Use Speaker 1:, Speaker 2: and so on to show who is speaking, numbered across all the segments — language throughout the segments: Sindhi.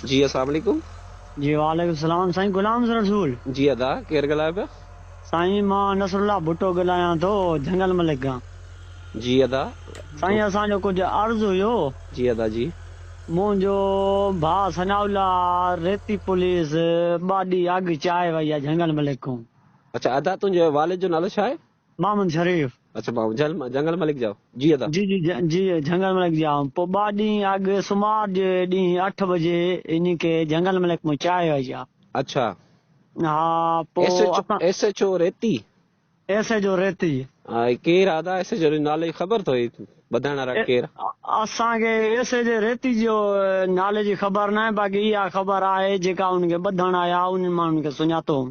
Speaker 1: جي اسلام عليڪم. جي وعليڪم
Speaker 2: السلام سائين غلام رسول. جي ادا ڪير
Speaker 1: ڳالهايو پيا. سائين مان
Speaker 2: نصرالله ڀٽو ڳلهايان ٿو جهنگل ملڪ کان. جي ادا.
Speaker 1: سائين اسان جو ڪجهه
Speaker 2: عرض هيو. جي ادا جي.
Speaker 1: منهنجو
Speaker 2: ڀاء ثناء الله ريتي پوليس ٻاڏي اڳ چائي وئي آ جهنگل ملڪ کون. اڇا ادا تنهنجي
Speaker 1: والد جو نالو ڇا آهي. محمد شريف.
Speaker 2: اڇا بابو جهل
Speaker 1: جهنگل ملڪ جاء. جي ادا. جي جي جي جهنگل
Speaker 2: ملڪ جاء پو ٻا ڏينهن اڳ سومار جي ڏينهن اٺ بجي انهي کي جهنگل ملڪ مون چاهي آئي جا. اڇا.
Speaker 1: ها
Speaker 2: پو ايس ايچ اسان. S H O
Speaker 1: Reti. S H O
Speaker 2: Reti. ها هي ڪير ادا
Speaker 1: ايس ايچ او ريتي نالو جي خبر ٿو هي ٻڌائڻ وارا ڪير. اسان کي
Speaker 2: ايس ايچ او ريتي جو نالي جي خبر ناهي باقي اها خبر آهي جيڪا ان کي ٻڌڻ آيا انهن ماڻهن کي سڃاتو هون.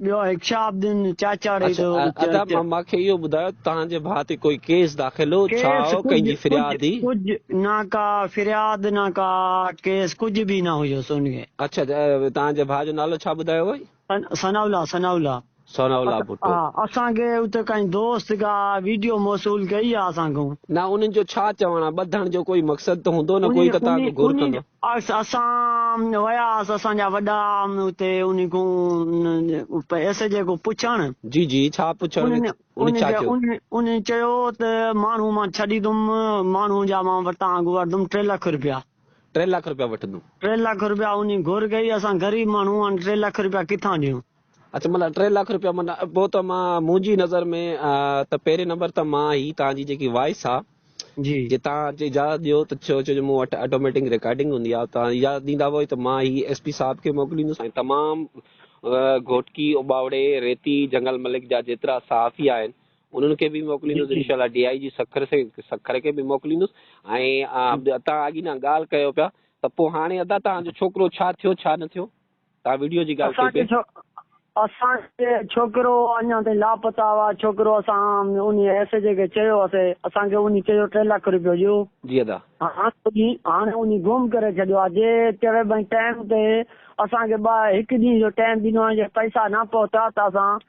Speaker 2: ٻيو هڪشا عابدين چاچڙ اچ ادا اچ مان
Speaker 1: کي اهو ٻڌايو تهان جي ڀاء تي ڪوئي ڪيس داخل هو ڇا ڪيس هو ڪنهن جي ڪجهه ڪجهه فرياد
Speaker 2: هئي
Speaker 1: ڪجهه نه ڪا
Speaker 2: فرياد نه ڪا ڪيس ڪجهه به نه هيوس ان کي اچ ادا تهان
Speaker 1: جي ڀاء جو نالو ڇا ٻڌايو هئي ثناء الله ثناء
Speaker 2: الله ثناء الله
Speaker 1: ڀٽو. اسان کي اتي
Speaker 2: ڪنهن دوست ڪا ويڊيو موصول ڪئي آ اسان کان. نه انهن جو ڇا
Speaker 1: چوڻ آ ٻڌڻ جو ڪوئي مقصد ته هوندو نه ڪوئي ته تان کان گهر ڪندو. اسان
Speaker 2: وياس اسان جا وڏا اتي انهن کان ايس جي کان پڇڻ. جي جي ڇا
Speaker 1: پڇڻ ويس انهن ڇا چيو. انهن چيو
Speaker 2: ته ماڻهو مان ڇڏي دم ماڻهو جا مان وٽان اگهه وٺدم ٽي لک روپيا. ٽي لک روپيا
Speaker 1: وٺدم. ٽي لک روپيا انهن
Speaker 2: گهر ڪئي اسان غريب ماڻهو آن ٽي لک روپيا ڪٿان ڏيون. اچ ملا ٽي
Speaker 1: لک روپيا من پو ته مان منهنجي نظر ۾ ته پهرين نمبر ته مان هي تان جي جيڪي وائس آ جي جي تان جي
Speaker 2: اجازت
Speaker 1: ڏيو ته ڇو جو مون وٽ آٽوميٽنگ ريڪارڊنگ هوندي آ تان اجازت ڏيندا وئي ته مان هي ايس پي صاحب کي موڪليندس ۽ تمام گهوٽڪي اوٻاوڙي ريتي جنگل ملڪ جا جيترا صحافي آهن انهن کي به موڪليندس انشاء الله ڊي آئي جي سکر سکر کي به موڪليندس ۽ تان اڳي نه ڳالهه ڪيو پيا ته پو هاڻي ادا تان جو ڇوڪرو ڇا ٿيو ڇا نه ٿيو ڪا وڊيو جي ڳالهه ٿئي پئي. اسان کي
Speaker 2: ڇوڪرو اڃا تائين لاپتا هئا ڇوڪرو اسان انهي ايس ايڇ اي کي چيو هئسي اسان کي انهي چيو ٽي لک رپيو ڏيو جي ادا. هاڻي انهي گم ڪري ڇڏيو آ جي چوي ڀائين ٽائيم تي اسان کي ٻه هڪ ڏينهن جو ٽائيم ڏنو آ جي پئسا نه پهتا ته اسان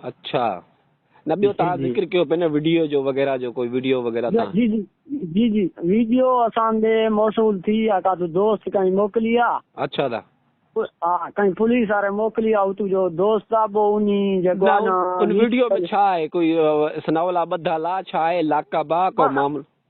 Speaker 2: اڇا
Speaker 1: نه ٻيو تان ذڪر ڪيو پئي نه وڊيو جو وغيره جو ڪوئي وڊيو وغيره تان جي جي جي جي ويڊيو
Speaker 2: اسان ڏي موصول ٿي يا ڪا تو دوست ڪئين موڪلي آ اڇا دا
Speaker 1: ها ڪئين
Speaker 2: پوليس واري موڪلي آ تو جو دوست آ بو اني جي گو نا ان
Speaker 1: ويڊيو ۾ ڇا آهي ڪوئي سناولا ٻڌا لا ڇا آهي لاڪا با ڪو معاملو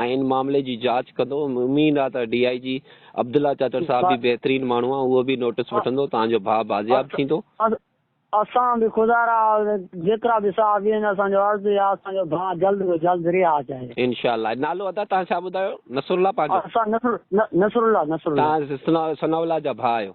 Speaker 1: آء ان معاملي جي جاچ ڪندو م اميد آ ته ڊي آء جي عبدالله چاچڙ صاحب به بهترين ماڻهو آ اهو به نوٽس وٺندو تان جو ڀاء بازياب ٿيندو. اسان
Speaker 2: به خدا را جيترا به صحافي آهن اسان جو عرض اهي آ اسان جو ڀاء جلد کان جلد رهاء ٿئي. انشاء الله نالو ادا
Speaker 1: توهان ڇا ٻڌايو نصرالله پنهنجو. اسان نصر نصرالله نصرالله. توهان ثناء الله جا ڀاء آهيو.